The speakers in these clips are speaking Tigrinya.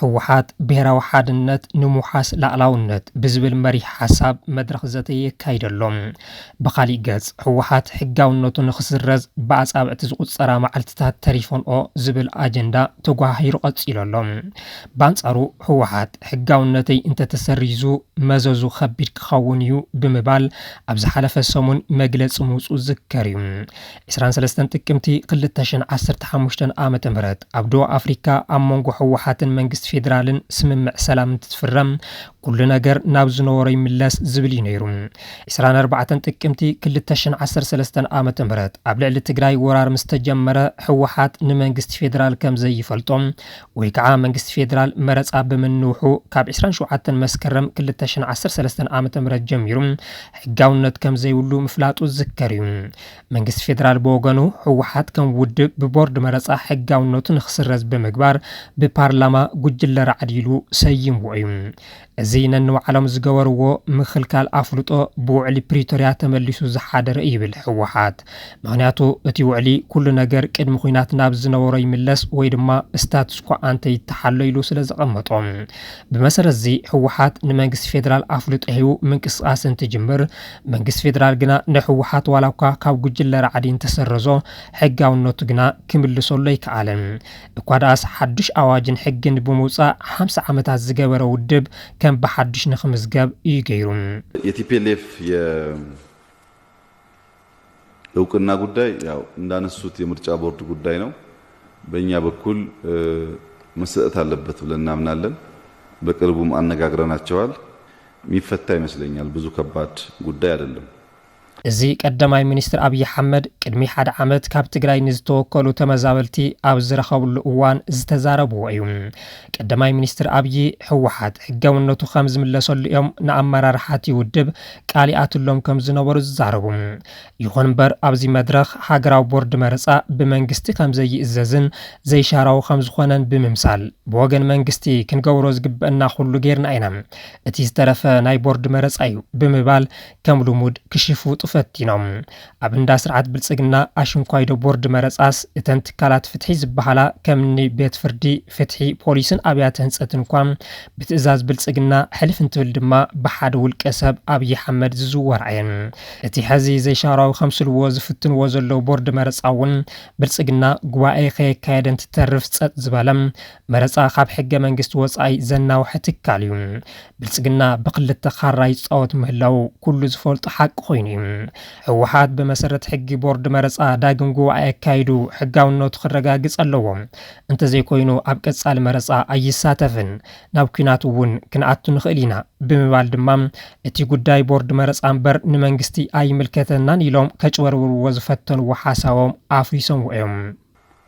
ህወሓት ብሄራዊ ሓድነት ንምውሓስ ላእላውነት ብዝብል መሪሕ ሓሳብ መድረኽ ዘተ የካይድ ኣሎ። ብኻሊእ ገፅ ህወሓት ሕጋውነቱ ንክስረዝ ብኣፃብዕቲ ዝቑፀራ መዓልቲታት ተሪፈንኦ ዝብል ኣጀንዳ ተጓሃሂሩ ቀፂሉ ኣሎ። ባንፃሩ ህወሓት ሕጋውነተይ እንተተሰሪዙ መዘዙ ከቢድ ክኸውን ኢዩ ብምባል ኣብ ዝሓለፈ ሰሙን መግለፂ ምውፅኡ ዝዝከር ኢዩ። ዕስራን ሰለስተን ጥቅምቲ ክልተ ሽሕን ዓሰርተ ሓሙሽተን ዓመተ ምህረት ኣብ ዶባ ኣፍሪካ ኣብ መንጎ ህወሓትን መንግስቲ ፌዴራልን ስምምዕ ሰላም እንትትፍረም ኩሉ ነገር ናብ ዝነበሮ ይምለስ ዝብል እዩ ነይሩ። ዕስራን ኣርባዕተን ጥቅምቲ ክልተ ሽሕን ዓሰርተ ሰለስተን ዓመተ ምህረት ኣብ ልዕሊ ትግራይ ወራር ምስ ተጀመረ ህወሓት ንመንግስቲ ፌዴራል ከም ዘይፈልጦ ወይ ከዓ መንግስቲ ፌዴራል መረፃ ብምንውሑ ካብ ዕስራን ሸውዓተን መስከረም ክልተ ሽሕን ዓሰርተ ሰለስተን ዓመተ ምህረት ጀሚሩ ሕጋውነት ከም ዘይብሉ ምፍላጡ ዝዝከር እዩ። መንግስቲ ፌደራል ብወገኑ ህወሓት ከም ውድብ ብቦርድ መረፃ ሕጋውነቱ ንክስረዝ ብምግባር ብፓርላማ ጉጅለ ራዕዲ ኢሉ ሰይምዎ እዩ። እዚ ነንባዕሎም ዝገበርዎ ምኽልካል ኣፍልጦ ብውዕሊ ፕሪቶርያ ተመሊሱ ዝሓደረ እዩ ይብል ህወሓት። ምኽንያቱ እቲ ውዕሊ ኩሉ ነገር ቅድሚ ኲናት ናብ ዝነበሮ ይምለስ ወይ ድማ ስታትስኮ ኣንተ ይተሓሎ ኢሉ ስለዘቐመጦ። ብመሰረት እዚ ህወሓት ንመንግስቲ ፌደራል ኣፍልጦ ሂቡ ምንቅስቓስ እንትጅምር መንግስቲ ፌደራል ግና ንህወሓት ዋላ እኳ ካብ ጉጅለ ራዕዲ እንተሰረዞ ሕጋውነቱ ግና ክምልሰሉ ኣይከኣለን። እኳ ደኣስ ሓዱሽ ኣዋጅን ሕግን ብምውፃእ ሓምሳ ዓመታት ዝገበረ ውድብ ከም ብሓዱሽ ንክምዝገብ እዩ ገይሩ። የቲፔሌፍ የ እውቅና ጉዳይ ያው እንዳነሱት የምርጫ ቦርድ ጉዳይ ነው። በእኛ በኩል መሰጠት አለበት ብለን እናምናለን። በቅርቡም አነጋግረናቸዋል። ሚፈታ ይመስለኛል ብዙ ከባድ ጉዳይ አደለም። እዚ ቀዳማይ ሚኒስትር ኣብዪ ኣሕመድ ቅድሚ ሓደ ዓመት ካብ ትግራይ ንዝተወከሉ ተመዛበልቲ ኣብ ዝረኸብሉ እዋን ዝተዛረብዎ እዩ። ቀዳማይ ሚኒስትር ኣብዪ ህወሓት ሕጋውነቱ ከምዝምለሰሉ እዮም ንኣመራርሓቲ ውድብ ቃል ይኣትሎም ከምዝነበሩ ዝዛረቡ፣ ይኹን ምበር ኣብዚ መድረኽ ሃገራዊ ቦርድ መረፃ ብመንግስቲ ከምዘይእዘዝን ዘይሻራዊ ከምዝኾነን ብምምሳል ብወገን መንግስቲ ክንገብሮ ዝግበእና ኩሉ ገይርና ኢና እቲ ዝተረፈ ናይ ቦርድ መረፃ ዩ ብምባል ከም ልሙድ ክሽፉጡ ፈቲኖም ኣብ እንዳ ስርዓት ብልፅግና ኣሽንኳይዶ ቦርድ መረፃስ እተን ትካላት ፍትሒ ዝበሃላ ከም እኒ ቤት ፍርዲ፣ ፍትሒ፣ ፖሊስን ኣብያተ ህንፀትን እኳ ብትእዛዝ ብልፅግና ሕልፍ እንትብል ድማ ብሓደ ውልቀ ሰብ ኣብዪ ሓመድ ዝዝወራ እየን። እቲ ሐዚ ዘይሻራዊ ከምስልዎ ዝፍትንዎ ዘለዉ ቦርድ መረፃ እውን ብልፅግና ጉባኤ ከየካየደ እንትተርፍ ፀጥ ዝበለ መረፃ ካብ ሕገ መንግስቲ ወፃኢ ዘናውሐ ትካል እዩ። ብልፅግና ብክልተ ካራ ይፃወት ምህላዉ ኩሉ ዝፈልጦ ሓቂ ኮይኑ እዩ። ህወሓት ብመሰረት ሕጊ ቦርድ መረፃ ዳግም ጉባኤ ኣካይዱ ሕጋውነቱ ክረጋግፅ ኣለዎ። እንተዘይኮይኑ ኣብ ቀፃሊ መረፃ ኣይሳተፍን፣ ናብ ኲናት እውን ክንኣቱ ንኽእል ኢና ብምባል ድማ እቲ ጉዳይ ቦርድ መረፃ እምበር ንመንግስቲ ኣይምልከተናን ኢሎም ከጭበርብርዎ ዝፈተንዎ ሓሳቦም ኣፍሪሶምዎ እዮም።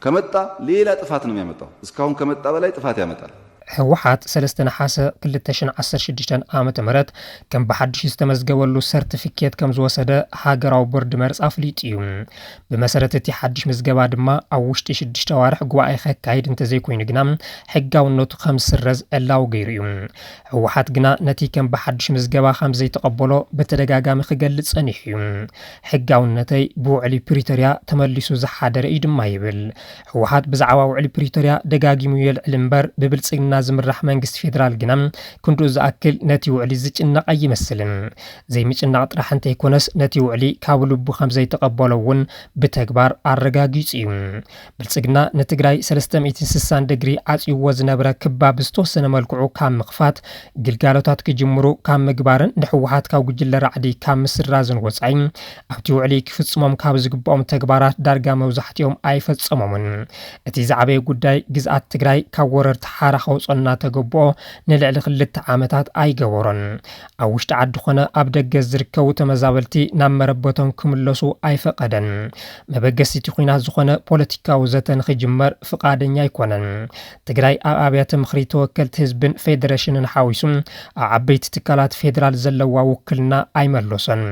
ከመጣ ሌላ ጥፋት ነው ሚያመጣው እስካሁን ከመጣ በላይ ጥፋት ያመጣል። ህወሓት ሰለስተ ነሓሰ ክልተ ሽሕን ዓሰርተ ሽዱሽተን ዓመተ ምህረት ከም ብሓድሽ ዝተመዝገበሉ ሰርትፊኬት ከምዝወሰደ ሃገራዊ ቦርድ መርጻ ኣፍሊጡ እዩ። ብመሰረት እቲ ሓድሽ ምዝገባ ድማ ኣብ ውሽጢ ሽዱሽተ ኣዋርሕ ጉባኤ ከካይድ እንተዘይኮይኑ ግና ሕጋውነቱ ከምዝስረዝ ዕላዊ ገይሩ እዩ። ህወሓት ግና ነቲ ከም ብሓድሽ ምዝገባ ከም ዘይተቐበሎ ብተደጋጋሚ ክገልጽ ጸኒሑ እዩ። ሕጋውነተይ ብውዕሊ ፕሪቶርያ ተመሊሱ ዝሓደረ እዩ ድማ ይብል። ህወሓት ብዛዕባ ውዕሊ ፕሪቶርያ ደጋጊሙ የልዕል እምበር ብብልጽግና ዝምራሕ መንግስቲ ፌደራል ግና ክንድኡ ዝኣክል ነቲ ውዕሊ ዝጭነቕ ኣይመስልን። ዘይምጭናቕ ጥራሕ እንተይኮነስ ነቲ ውዕሊ ካብ ልቡ ከም ዘይተቐበሎ እውን ብተግባር ኣረጋጊጹ እዩ። ብልፅግና ንትግራይ ሰለስተ ሚእትን ስሳን ደግሪ ዓፅዩዎ ዝነበረ ክባ ብዝተወሰነ መልክዑ ካብ ምኽፋት፣ ግልጋሎታት ክጅምሩ ካብ ምግባርን ንህወሓት ካብ ጉጅለ ራዕዲ ካብ ምስራዝን ወፃኢ ኣብቲ ውዕሊ ክፍፅሞም ካብ ዝግበኦም ተግባራት ዳርጋ መብዛሕቲኦም ኣይፈፀሞምን። እቲ ዝዓበየ ጉዳይ ግዝኣት ትግራይ ካብ ወረርቲ ሓራ ከውፅኦ እናተገበኦ ንልዕሊ ክልተ ዓመታት ኣይገበሮን። ኣብ ውሽጢ ዓዲ ኮነ ኣብ ደገ ዝርከቡ ተመዛበልቲ ናብ መረበቶም ክምለሱ ኣይፈቐደን። መበገሲቲ ኹናት ዝኾነ ፖለቲካዊ ዘተ ንክጅመር ፍቓደኛ ኣይኮነን። ትግራይ ኣብ ኣብያተ ምኽሪ ተወከልቲ ህዝብን ፌደሬሽንን ሓዊሱ ኣብ ዓበይቲ ትካላት ፌዴራል ዘለዋ ውክልና ኣይመለሶን።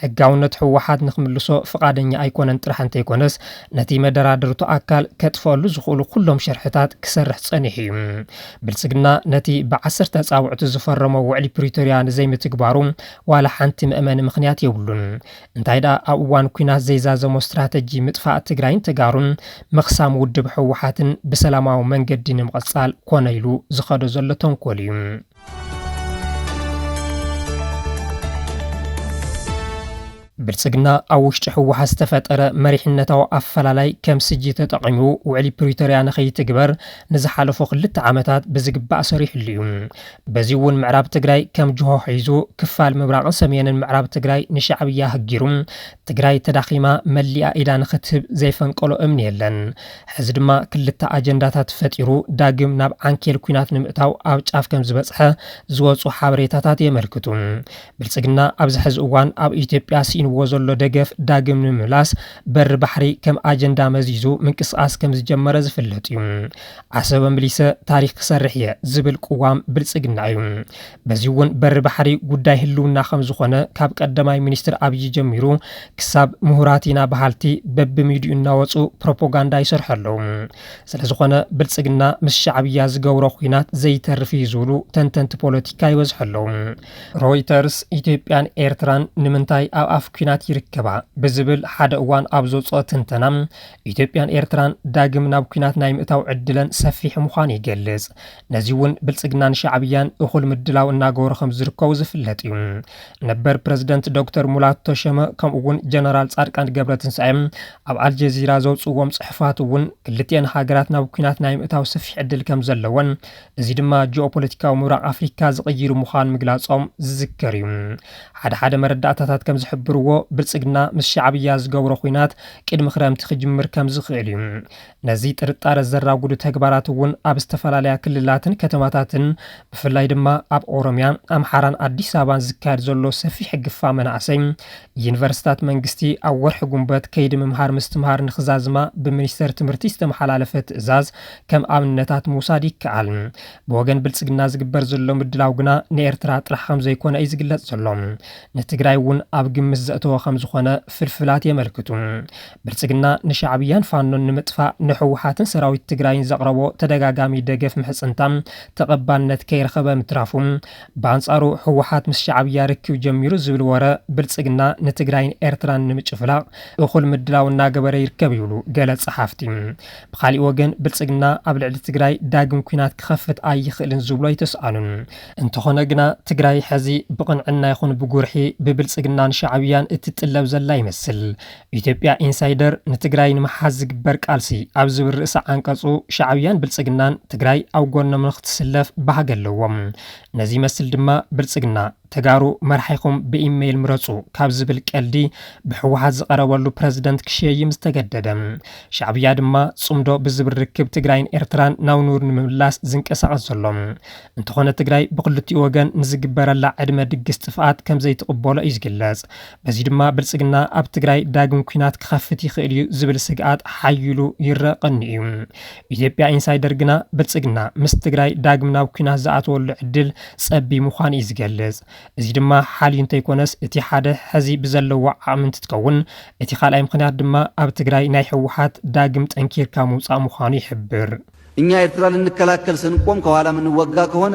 ሕጋውነት ህወሓት ንክምልሶ ፍቓደኛ ኣይኮነን ጥራሕ እንተይኮነስ ነቲ መደራደርቱ ኣካል ከጥፈኣሉ ዝኽእሉ ኩሎም ሸርሕታት ክሰርሕ ፀኒሑ እዩ። ብልፅግና ነቲ ብዓሰርተ ኣፃብዕቱ ዝፈረሞ ውዕሊ ፕሪቶርያ ንዘይምትግባሩ ዋላ ሓንቲ መእመኒ ምኽንያት የብሉን። እንታይ ድኣ ኣብ እዋን ኲናት ዘይዛዘሞ ስትራተጂ ምጥፋእ ትግራይን ተጋሩን ምኽሳም ውድብ ህወሓትን ብሰላማዊ መንገዲ ንምቕፃል ኮነ ኢሉ ዝኸዶ ዘሎ ተንኮል እዩ። ብልፅግና ኣብ ውሽጢ ህወሓት ዝተፈጠረ መሪሕነታዊ ኣፈላላይ ከም ስጂ ተጠቒሙ ውዕሊ ፕሪቶርያ ንከይትግበር ንዝሓለፉ ክልተ ዓመታት ብዝግባእ ሰሪሕሉ እዩ። በዚ እውን ምዕራብ ትግራይ ከም ጅሆ ሒዙ ክፋል ምብራቕን ሰሜንን ምዕራብ ትግራይ ንሻዕብያ ህጊሩ ትግራይ ተዳኺማ መሊኣ ኢዳ ንክትህብ ዘይፈንቀሎ እምኒ የለን። ሕዚ ድማ ክልተ ኣጀንዳታት ፈጢሩ ዳግም ናብ ዓንኬል ኲናት ንምእታው ኣብ ጫፍ ከም ዝበፅሐ ዝወፁ ሓበሬታታት የመልክቱ። ብልፅግና ኣብዚ ሕዚ እዋን ኣብ ኢትዮጵያ ስኢንዎ ዘሎ ደገፍ ዳግም ንምምላስ በሪ ባሕሪ ከም ኣጀንዳ መዚዙ ምንቅስቓስ ከምዝጀመረ ዝፍለጥ እዩ። ዓሰበ ምሊሰ ታሪኽ ክሰርሕ እየ ዝብል ቅዋም ብልፅግና እዩ። በዚ እውን በሪ ባሕሪ ጉዳይ ህልውና ከምዝኾነ ካብ ቀዳማይ ሚኒስትር ኣብዪ ጀሚሩ ክሳብ ምሁራት ኢና በሃልቲ በቢሚዲኡ እናወፁ ፕሮፖጋንዳ ይሰርሑ ኣለዉ። ስለዝኾነ ብልፅግና ምስ ሻዕብያ ዝገብሮ ኲናት ዘይተርፍ እዩ ዝብሉ ተንተንቲ ፖለቲካ ይበዝሑ ኣለዉ። ሮይተርስ ኢትዮጵያን ኤርትራን ንምንታይ ኣብ ኣፍ ኲናት ይርከባ ብዝብል ሓደ እዋን ኣብ ዘውፅኦ ትንተና ኢትዮጵያን ኤርትራን ዳግም ናብ ኲናት ናይ ምእታው ዕድለን ሰፊሕ ምዃኑ ይገልጽ። ነዚ እውን ብልጽግናን ሻዕብያን እኹል ምድላው እናገበሩ ከም ዝርከቡ ዝፍለጥ እዩ። ነበር ፕረዚደንት ዶክተር ሙላቱ ተሸመ ከምኡ እውን ጀነራል ጻድቃን ገብረትንሳኤ ኣብ ኣልጀዚራ ዘውፅዎም ፅሑፋት እውን ክልቲኤን ሃገራት ናብ ኩናት ናይ ምእታው ሰፊሕ ዕድል ከም ዘለወን እዚ ድማ ጂኦፖለቲካዊ ምብራቕ ኣፍሪካ ዝቕይር ምዃኑ ምግላፆም ዝዝከር እዩ። ሓደ ሓደ መረዳእታታት ከም ዝሕብርዎ ብልፅግና ምስ ሻዕብያ ዝገብሮ ኹናት ቅድሚ ክረምቲ ክጅምር ከም ዝኽእል እዩ። ነዚ ጥርጣረ ዘራጉዱ ተግባራት እውን ኣብ ዝተፈላለያ ክልላትን ከተማታትን ብፍላይ ድማ ኣብ ኦሮምያ፣ ኣምሓራን ኣዲስ ኣበባን ዝካየድ ዘሎ ሰፊሕ ግፋ መናእሰይ ዩኒቨርሲታት መንግስቲ ኣብ ወርሒ ጉንበት ከይዲ ምምሃር ምስትምሃር ንክዛዝማ ብሚኒስቴር ትምህርቲ ዝተመሓላለፈ ትእዛዝ ከም ኣብነታት ምውሳድ ይከኣል። ብወገን ብልጽግና ዝግበር ዘሎ ምድላው ግና ንኤርትራ ጥራሕ ከም ዘይኮነ እዩ ዝግለጽ ዘሎ። ንትግራይ እውን ኣብ ግምት ዘእተወ ከም ዝኾነ ፍልፍላት የመልክቱ። ብልጽግና ንሻዕብያን ፋኖን ንምጥፋእ ንህወሓትን ሰራዊት ትግራይን ዘቕረቦ ተደጋጋሚ ደገፍ ምሕጽንታ ተቐባልነት ከይረኸበ ምትራፉ፣ ብኣንጻሩ ህወሓት ምስ ሻዕብያ ርክብ ጀሚሩ ዝብል ወረ ብልጽግና ንትግራይን ኤርትራን ንምጭፍላቕ እኹል ምድላው እናገበረ ይርከብ ይብሉ ገለ ጸሓፍቲ። ብኻሊእ ወገን ብልፅግና ኣብ ልዕሊ ትግራይ ዳግም ኲናት ክኸፍት ኣይኽእልን ዝብሎ ኣይተስኣኑን። እንተኾነ ግና ትግራይ ሐዚ ብቕንዕና ይኹን ብጉርሒ ብብልፅግናን ሻዕብያን እትጥለብ ዘላ ይመስል። ኢትዮጵያ ኢንሳይደር ንትግራይ ንምሓዝ ዝግበር ቃልሲ ኣብ ዝብል ርእሰ ዓንቀፁ ሻዕብያን ብልፅግናን ትግራይ ኣብ ጎኖም ንኽትስለፍ ባህጊ ኣለዎም። ነዚ ይመስል ድማ ብልፅግና ተጋሩ መራሒኹም ብኢመይል ምረፁ ካብ ዝብል ቀልዲ ብሕወሓት ዝቐረበሉ ፕረዚደንት ክሸይም ዝተገደደ። ሻዕብያ ድማ ፅምዶ ብዝብል ርክብ ትግራይን ኤርትራን ናብ ንቡር ንምምላስ ዝንቀሳቐስ ዘሎ። እንተኾነ ትግራይ ብኽልቲኡ ወገን ንዝግበረላ ዕድመ ድግስ ጥፍኣት ከምዘይትቕበሎ እዩ ዝግለፅ። በዚ ድማ ብልፅግና ኣብ ትግራይ ዳግም ኲናት ክኸፍት ይኽእል እዩ ዝብል ስግኣት ሓዪሉ ይረኣ ቀንዩ እዩ። ኢትዮጵያ ኢንሳይደር ግና ብልፅግና ምስ ትግራይ ዳግም ናብ ኲናት ዝኣትወሉ ዕድል ፀቢ ምዃኑ እዩ ዝገልፅ። እዚ ድማ ሓልዩ እንተይኮነስ እቲ ሓደ ሕዚ ብዘለዎ ዓቕሚ እንትትከውን እቲ ካልኣይ ምኽንያት ድማ ኣብ ትግራይ ናይ ህወሓት ዳግም ጠንኪርካ ምውፃእ ምዃኑ ይሕብር። እኛ ኤርትራ ልንከላከል ስንቆም ከኋላ ምንወጋ ከሆነ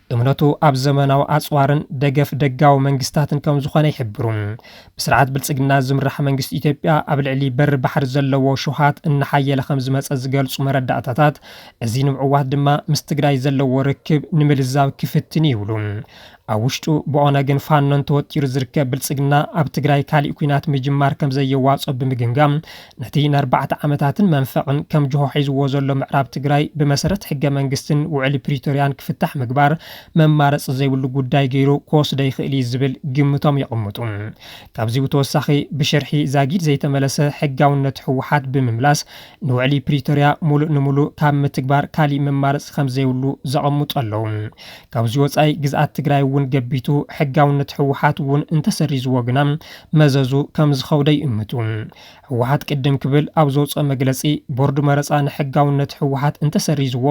እምነቱ ኣብ ዘመናዊ ኣጽዋርን ደገፍ ደጋዊ መንግስታትን ከም ዝኾነ ይሕብሩ። ብስርዓት ብልጽግና ዝምራሕ መንግስቲ ኢትዮጵያ ኣብ ልዕሊ በሪ ባሕሪ ዘለዎ ሽውሃት እናሓየለ ከም ዝመጸ ዝገልጹ መረዳእታታት፣ እዚ ንምዕዋት ድማ ምስ ትግራይ ዘለዎ ርክብ ንምልዛብ ክፍትን እዩ ይብሉ። ኣብ ውሽጡ ብኦነግን ፋኖን ተወጢሩ ዝርከብ ብልጽግና፣ ኣብ ትግራይ ካሊእ ኲናት ምጅማር ከም ዘየዋጽኦ ብምግምጋም፣ ነቲ ንኣርባዕተ ዓመታትን መንፈዕን ከም ጅሆ ሒዝዎ ዘሎ ምዕራብ ትግራይ ብመሰረት ሕገ መንግስትን ውዕሊ ፕሪቶርያን ክፍታሕ ምግባር መማረፂ ዘይብሉ ጉዳይ ገይሩ ክወስዶ ይኽእል እዩ ዝብል ግምቶም የቐምጡ። ካብዚ ብተወሳኺ ብሽርሒ ዛጊድ ዘይተመለሰ ሕጋውነት ህወሓት ብምምላስ ንውዕሊ ፕሪቶርያ ሙሉእ ንሙሉእ ካብ ምትግባር ካሊእ መማረፂ ከምዘይብሉ ዘቐምጡ ኣለው። ካብዚ ወፃኢ ግዝኣት ትግራይ እውን ገቢቱ ሕጋውነት ህወሓት እውን እንተሰሪዝዎ ግና መዘዙ ከምዝኸብዶ ይእምቱ። ህወሓት ቅድም ክብል ኣብ ዘውፅኦ መግለፂ ቦርድ መረፃ ንሕጋውነት ህወሓት እንተሰሪዝዎ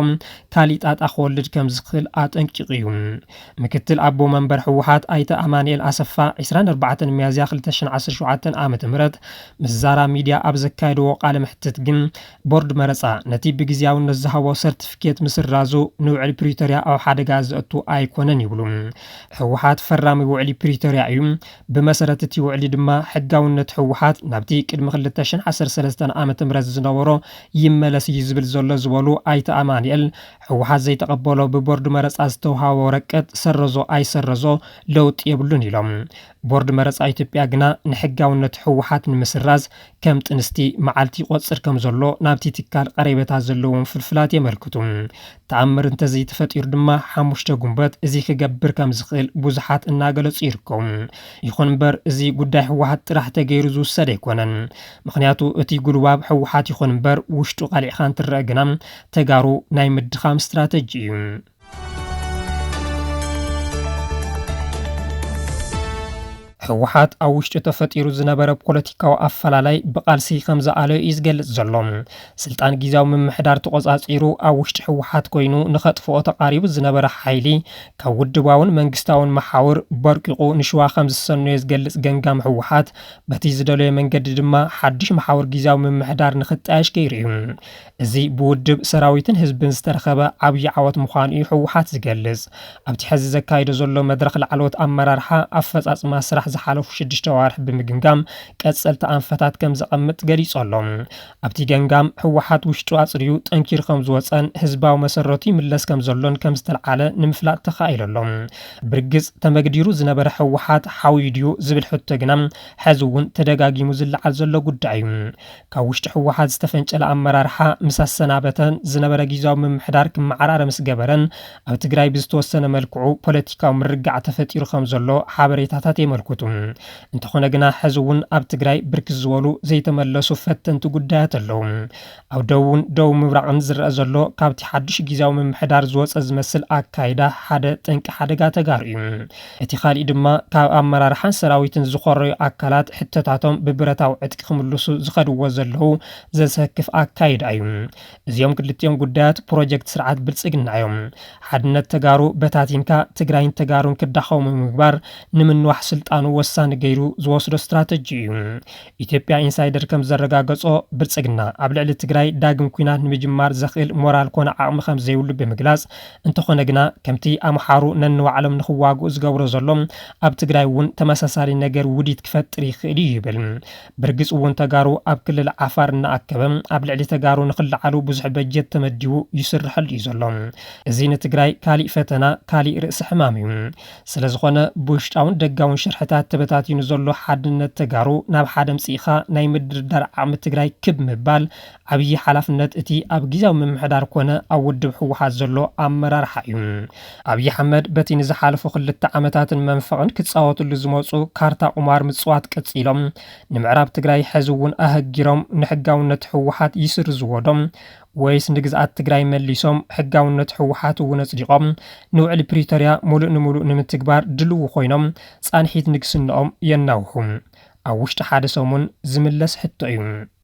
ካሊእ ጣጣ ክወልድ ከምዝኽእል ኣጠንቂቑ እዩ። ምክትል ኣቦ መንበር ህወሓት ኣይተ ኣማኒኤል ኣሰፋ ዕስራን ኣርባዕተን ሚያዝያ ክልተ ሽሕን ዓሰርተ ሸውዓተን ዓመተ ምህረት ምስ ዛራ ሚድያ ኣብ ዘካየድዎ ቃለ መሕትት ግን ቦርድ መረፃ ነቲ ብግዝያውነት ዝሃቦ ሰርቲፊኬት ምስራዙ ንውዕሊ ፕሪቶርያ ኣብ ሓደጋ ዘእቱ ኣይኮነን ይብሉ። ህወሓት ፈራሚ ውዕሊ ፕሪቶርያ እዩ፣ ብመሰረት እቲ ውዕሊ ድማ ሕጋውነት ህወሓት ናብቲ ቅድሚ ክልተ ሽሕን ዓሰርተ ሰለስተን ዓ ም ዝነበሮ ይመለስ እዩ ዝብል ዘሎ ዝበሉ ኣይተ ኣማኒኤል ህወሓት ዘይተቐበሎ ብቦርድ መረፃ ዝተውሃቦ ወረቀት ሰረዞ ኣይሰረዞ ለውጢ የብሉን ኢሎም። ቦርድ መረፃ ኢትዮጵያ ግና ንሕጋውነት ህወሓት ንምስራዝ ከም ጥንስቲ መዓልቲ ይቖፅር ከም ዘሎ ናብቲ ትካል ቐሬበታ ዘለዎም ፍልፍላት የመልክቱ። ተኣምር እንተዘይተፈጢሩ ድማ ሓሙሽተ ጉንበት እዚ ክገብር ከም ዝኽእል ብዙሓት እናገለፁ ይርከቡ። ይኹን እምበር እዚ ጉዳይ ህወሓት ጥራሕ ተገይሩ ዝውሰድ ኣይኮነን። ምኽንያቱ እቲ ጉልባብ ህወሓት ይኹን እምበር ውሽጡ ቐሊዕኻ እንትረኣ ግና ተጋሩ ናይ ምድኻም ስትራተጂ እዩ። ህወሓት ኣብ ውሽጡ ተፈጢሩ ዝነበረ ፖለቲካዊ ኣፈላላይ ብቃልሲ ከም ዝኣለዮ እዩ ዝገልጽ ዘሎ። ስልጣን ግዜያዊ ምምሕዳር ተቖጻጺሩ ኣብ ውሽጢ ህወሓት ኮይኑ ንኸጥፍኦ ተቓሪቡ ዝነበረ ሓይሊ ካብ ውድባውን መንግስታውን መሓውር በርቂቑ ንሽዋ ከም ዝሰነዮ ዝገልጽ ገምጋም ህወሓት በቲ ዝደለዮ መንገዲ ድማ ሓድሽ መሓውር ግዜያዊ ምምሕዳር ንኽጣየሽ ገይሩ እዩ። እዚ ብውድብ፣ ሰራዊትን ህዝብን ዝተረኸበ ዓብዪ ዓወት ምዃኑ እዩ ህወሓት ዝገልፅ። ኣብቲ ሐዚ ዘካይዶ ዘሎ መድረኽ ላዕለዎት ኣመራርሓ ኣፈፃፅማ ስራሕ ዝሓለፉ ሽዱሽተ ኣዋርሕ ብምግምጋም ቀፀልቲ ኣንፈታት ከምዘቐምጥ ገሊፁ ኣሎ። ኣብቲ ገምጋም ህወሓት ውሽጡ ኣፅርዩ ጠንኪሩ ከምዝወፀን ህዝባዊ መሰረቱ ይምለስ ከምዘሎን ከምዝተልዓለ ንምፍላጥ ተኻኢሉ ኣሎ። ብርግፅ ተመግዲሩ ዝነበረ ህወሓት ሓውዩ ድዩ ዝብል ሕቶ ግና ሐዚ እውን ተደጋጊሙ ዝለዓል ዘሎ ጉዳይ እዩ። ካብ ውሽጢ ህወሓት ዝተፈንጨለ ኣመራርሓ ምስ ኣሰናበተን ዝነበረ ጊዚያዊ ምምሕዳር ክመዓራረ ምስ ገበረን ኣብ ትግራይ ብዝተወሰነ መልክዑ ፖለቲካዊ ምርግጋዕ ተፈጢሩ ከም ዘሎ ሓበሬታታት የመልኩቱ። እንተኾነ ግና ሕዚ እውን ኣብ ትግራይ ብርክት ዝበሉ ዘይተመለሱ ፈተንቲ ጉዳያት ኣለው። ኣብ ደቡብን ደቡብ ምብራቕን ዝረኣ ዘሎ ካብቲ ሓዱሽ ጊዚያዊ ምምሕዳር ዝወፀ ዝመስል ኣካይዳ ሓደ ጠንቂ ሓደጋ ተጋሩ እዩ። እቲ ካሊእ ድማ ካብ ኣመራርሓን ሰራዊትን ዝኾረዩ ኣካላት ሕቶታቶም ብብረታዊ ዕጥቂ ክምልሱ ዝኸድዎ ዘለዉ ዘሰክፍ ኣካይዳ እዩ። እዚኦም ክልቲኦም ጉዳያት ፕሮጀክት ስርዓት ብልፅግና እዮም። ሓድነት ተጋሩ በታቲንካ ትግራይን ተጋሩን ክዳኸሙ ምግባር ንምንዋሕ ስልጣኑ ወሳኒ ገይሩ ዝወስዶ ስትራተጂ እዩ። ኢትዮጵያ ኢንሳይደር ከምዘረጋገፆ ብልፅግና ኣብ ልዕሊ ትግራይ ዳግም ኲናት ንምጅማር ዘኽእል ሞራል ኮነ ዓቕሚ ከምዘይብሉ ብምግላፅ እንተኾነ ግና ከምቲ ኣምሓሩ ነንባዕሎም ንኽዋግኡ ዝገብሮ ዘሎ ኣብ ትግራይ እውን ተመሳሳሊ ነገር ውዲት ክፈጥር ይኽእል እዩ ይብል። ብርግፅ እውን ተጋሩ ኣብ ክልል ዓፋር እናኣከበ ኣብ ልዕሊ ተጋሩ ንኽለዓሉ ብዙሕ በጀት ተመዲቡ ይስረሐሉ እዩ ዘሎ። እዚ ንትግራይ ካሊእ ፈተና ካሊእ ርእሲ ሕማም እዩ። ስለዝኾነ ብውሽጣውን ደጋውን ሽርሕታት ተበታቲኑ ዘሎ ሓድነት ተጋሩ ናብ ሓደ ኣምፂእኻ ናይ ምድርዳር ዓቕሚ ትግራይ ክብ ምባል ዓብዪ ሓላፍነት እቲ ኣብ ጊዚያዊ ምምሕዳር ኮነ ኣብ ውድብ ህወሓት ዘሎ ኣመራርሓ እዩ። ኣብዪ ኣሕመድ በቲ ንዝሓለፉ ክልተ ዓመታትን መንፈቕን ክፃወትሉ ዝመፁ ካርታ ቁማር ምፅዋት ቀፂሎም ንምዕራብ ትግራይ ሐዚ እውን ኣሀጊሮም ንሕጋውነት ህወሓት ይስርዝዎ ዶ ወይስ ንግዝኣት ትግራይ መሊሶም ሕጋውነት ህወሓት እውን ኣፅዲቖም ንውዕሊ ፕሪቶርያ ሙሉእ ንሙሉእ ንምትግባር ድልው ኮይኖም ፃንሒት ንግስንኦም የናውሑ? ኣብ ውሽጢ ሓደ ሰሙን ዝምለስ ሕቶ እዩ።